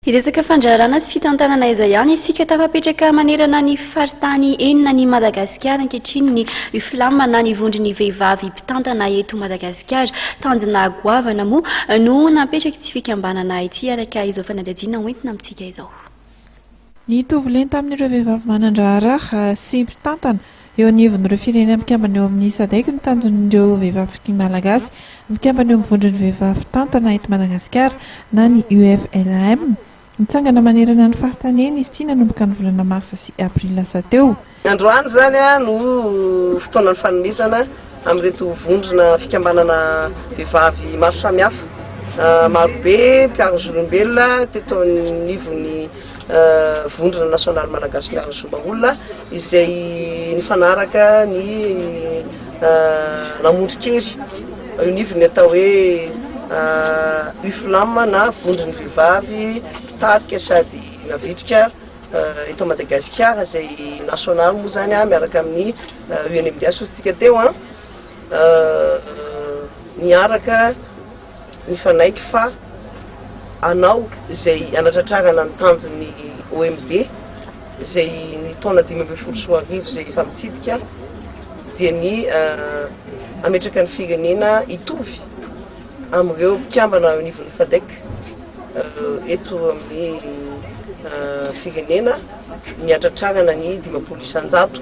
Hiresaka fandraharana sy fitantanana aiza ihany isika? Tafapetraka manerana ny faritany enina an'i Madagasikara ankehitriny ny UFLAM na ny Vondron'ny Vehivavy Mpitantana eto Madagasikara. Tanjona goavana moa no napetraky ity fikambanana ity araka izao fanadihadiana hoentina amintsika izao. Nitovy lenta amin'ireo vehivavy manan-draharaha sy mpitantana Eo anivon'ireo firenena mpikambana eo amin'ny Sadec ny tanjon'ireo vehivavy malagasy mpikambana eo amin'ny Vondron'ny vehivavy mpitantana eto Madagasikara na ny UFLAM. Nitsangana manerana ny faritany eny izy ity nanomboka ny volana marsa sy aprily lasa teo. Androany izany no fotoanan'ny fanomezana amin'ireto vondrona fikambanana vehivavy maro samihafa. Marobe mpiaro ny zon'olombelona teto anivon'ny Vondrona nasionaly malagasy mpiaro ny zon'olombelona. izay nifanaraka ny Lamondrikery, eo anivon'ny atao hoe UFLAM na Vondron'ny Vehivavy Mpitarika sady Navitrika eto Madagasikara, izay nasionaly moa izany miaraka amin'ny UNMDH hoy isika teo. Niaraka. mifanaiky fa hanao izay hanatratrarana ny tanjony ny OMD izay ny taona dimy ambin'ny folo sy roa arivo izay efa mitsidika dia ny hametraka ny firenena hitovy amin'ireo mpikambana eo anivon'ny SADEC eto amin'ny firenena ny hatratrarana ny dimampolo isan-jato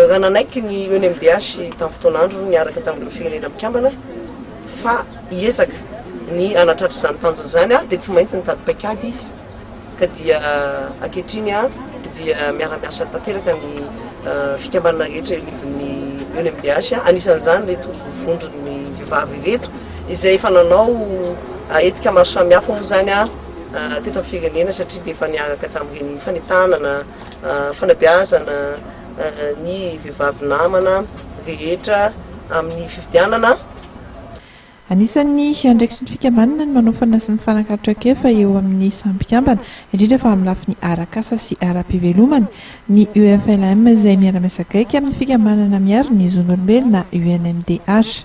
raha nanaiky ny UNMDH tamin'ny fotoan'andro niaraka tamin'ireo firenena mikambana fa hiezaka ny hanatratra izany tanjona izany ary dia tsy maintsy nitady paikady izy ka dia ankehitriny dia miara-miasa tanteraka ny fikambanana rehetra eo anivon'ny UNMDH, anisan'izany ireto vondron'ny vehivavy ireto izay efa nanao hetsika maro samihafa moa izany teto amin'ny firenena satria dia efa niaraka tamin'ireny fanentanana, fanabeazana. ny vehivavy namana rehetra amin'ny fifidianana. Anisan'ny andraikitry ny fikambanana ny manaofana sy mifanakalo traikefa eo amin'ny samy mpikambana, indrindra fa amin'ny lafiny arak'asa sy ara-pivelomana. Ny UFLM izay miara-miasa akaiky amin'ny fikambanana miaro ny zon'olombelona UNMDH.